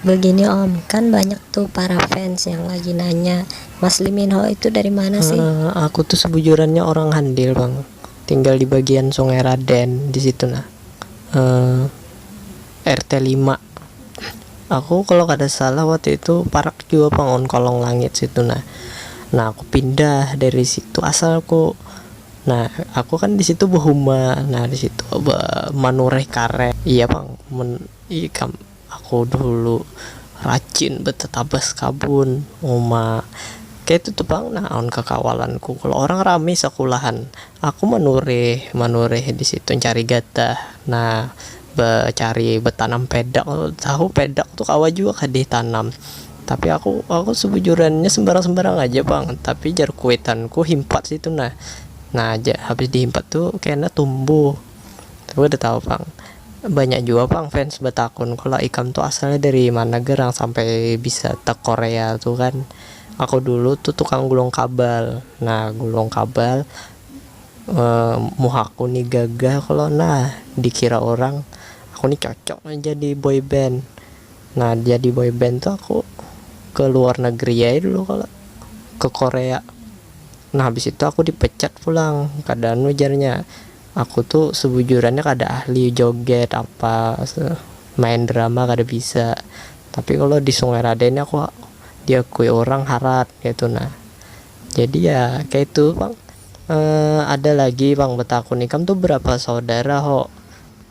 Begini om, kan banyak tuh para fans yang lagi nanya, Mas Lee Min Ho itu dari mana sih? Uh, aku tuh sebujurannya orang Handil bang, tinggal di bagian Sungai Raden di situ nah. Uh, eh, RT 5 Aku kalau kada salah waktu itu parak juga bang on kolong langit situ nah. Nah aku pindah dari situ asal aku Nah, aku kan di situ berhuma. Nah, di situ manureh karet. Iya, Bang. Men, iya, Aku dulu racin betetabas kabun uma, kaitu tu pang nah aun kakawalanku kalo orang rami sakulahan aku manurih manurih disitu mancari gatah nah becari betanam pedak tu tahu pedak tu kawa jua kah ditanam tapi aku aku sebujurannya sembarang sembarang aja pang tapi jar kuitanku himpat situ nah nah habis dihimpat tu kena tumbuh, aku kada tahu pang. Banyak jua pang fans batakun kalo ikam tu asalnya dari mana ger nang sampai bisa te korea tu kan. Aku dulu tu tukang gulung kabal, nah gulung kabal muhaku ni gagah kalo nah dikira urang aku ni cocok nah jadi boy band. Nah jadi boy band tu aku ke luar negeri ae dulu kalo ke korea nah habis itu aku dipecat pulang kada anu jarnya. Aku tu sebujurannya kada ahli joget apa, main drama kada bisa, tapi kalo di Sungai Raden ni aku diakui urang harat kaitu nah. Jadi ya kaitu pang ada lagi pang betakun ikam tu berapa saudara ho,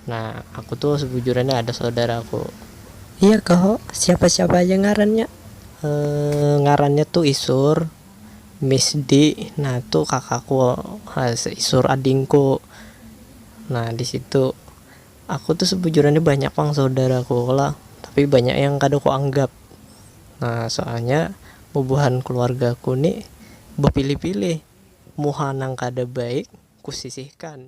nah aku tu sebujurannya ada saudaraku. Iya kah ho, siapa-siapa aja ngarannya? Ngarannya tu Isur. Miss di, nah tu kakaku, isur adingku, nah di situ aku tu sebujurnya banyak pang saudaraku lah tapi banyak yang kada ku anggap nah soalnya bubuhan keluargaku ni bepilih-pilih muha nang kada baik ku sisihkan.